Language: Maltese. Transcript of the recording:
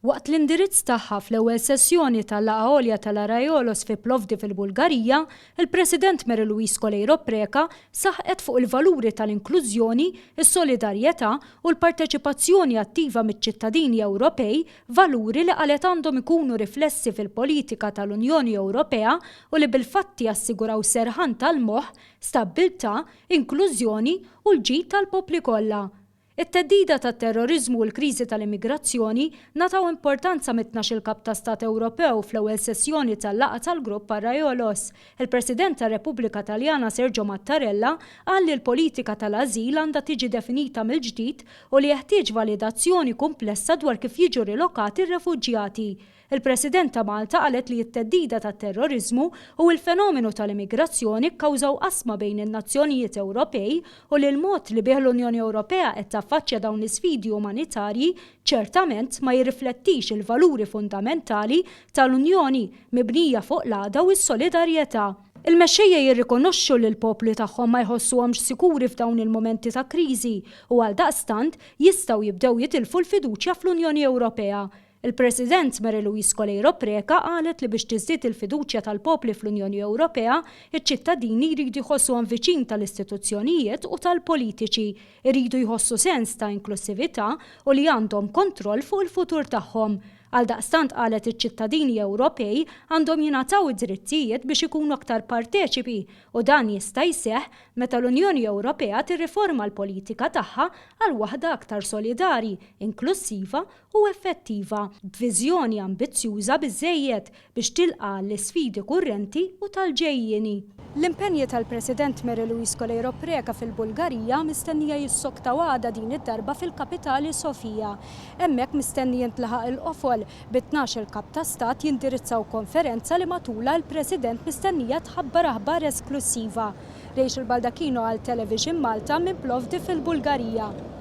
Waqt l-indirizz tagħha fl-ewwel sessjoni tal-Laqgħa Għolja tal-Arraiolos fi Plovdiv il-Bulgarija, il-President Mary Louise Coleiro Preca saħqet fuq il-valuri tal-inklużjoni, is-solidarjetà u l-parteċipazzjoni attiva miċ-ċittadini Ewropej, valuri li qalet għandhom ikunu riflessi fil-politika tal-Unjoni Ewropea u li bil-fatti jassiguraw serħan tal-moħħ, stabbiltà, inklużjoni u l-ġid tal-popli kollha. It-theddida tat-terroriżmu u l-kriżi tal-immigrazzjoni ngħataw importanza mit-tnax-il Kap ta' Stat Ewropew fl-ewwel sessjoni tal-laqgħa tal-Grupp Arraiolos. Il-President tar-Repubblika Taljana Sergio Mattarella qal li l-politika tal-ażil għandha tiġi definita mill-ġdid u li jeħtieġ validazzjoni kumplessa dwar kif jiġu rilokati r-refuġjati. Il-President ta' Malta qalet li t-theddida tat-terroriżmu u l-fenomenu tal-immigrazzjoni kkawżaw qasma bejn in-nazzjonijiet Ewropej u li l-mod li bih l-Unjoni Ewropea qed taffaċċja dawn l-isfidi umanitarji ċertament ma jirriflettix il-valuri fundamentali tal-Unjoni mibnija fuq l-għaqda u s-solidarjetà. Il-mexxejja jirrikonoxxu li l-popli tagħhom ma jħossuhomx sikuri f'dawn il-mumenti ta' kriżi u għaldaqstant jistgħu jibdew jitilfu l-fiduċja fl-Unjoni Ewropea. Il-President Mary Louise Coleiro Preca qalet li biex tiżdied il-fiduċja tal-popli fl-Unjoni Ewropea, iċ-ċittadini jridu jħossuhom viċin tal-istituzzjonijiet u tal-politiċi, iridu jħossu sens ta' inklussività u li għandhom kontroll fuq il-futur tagħhom. Għaldaqstant qalet iċ-ċittadini Ewropej għandhom jingħataw id-drittijiet biex ikunu aktar parteċipi u dan jista' jseħħ meta l-Unjoni Ewropea tirriforma l-politika tagħha għal waħda aktar solidari, inklussiva u effettiva, b'viżjoni ambizzjuża biżżejjed biex tilqa' għall-isfidi kurrenti u tal-ġejjieni. L-impenji tal-President Mary Louise Coleiro Preca fil-Bulgarija mistennija jissoktaw għada din id-darba fil-kapitali Sofia. Hemmhekk mistenni jintlaħaq il-qofol, bi tnax-il Kap ta' Stat jindirizzaw konferenza li matulha l-President mistennija tħabbar aħbar esklussiva. Rachel Baldacchino għal Television Malta minn Plovdiv fil-Bulgarija.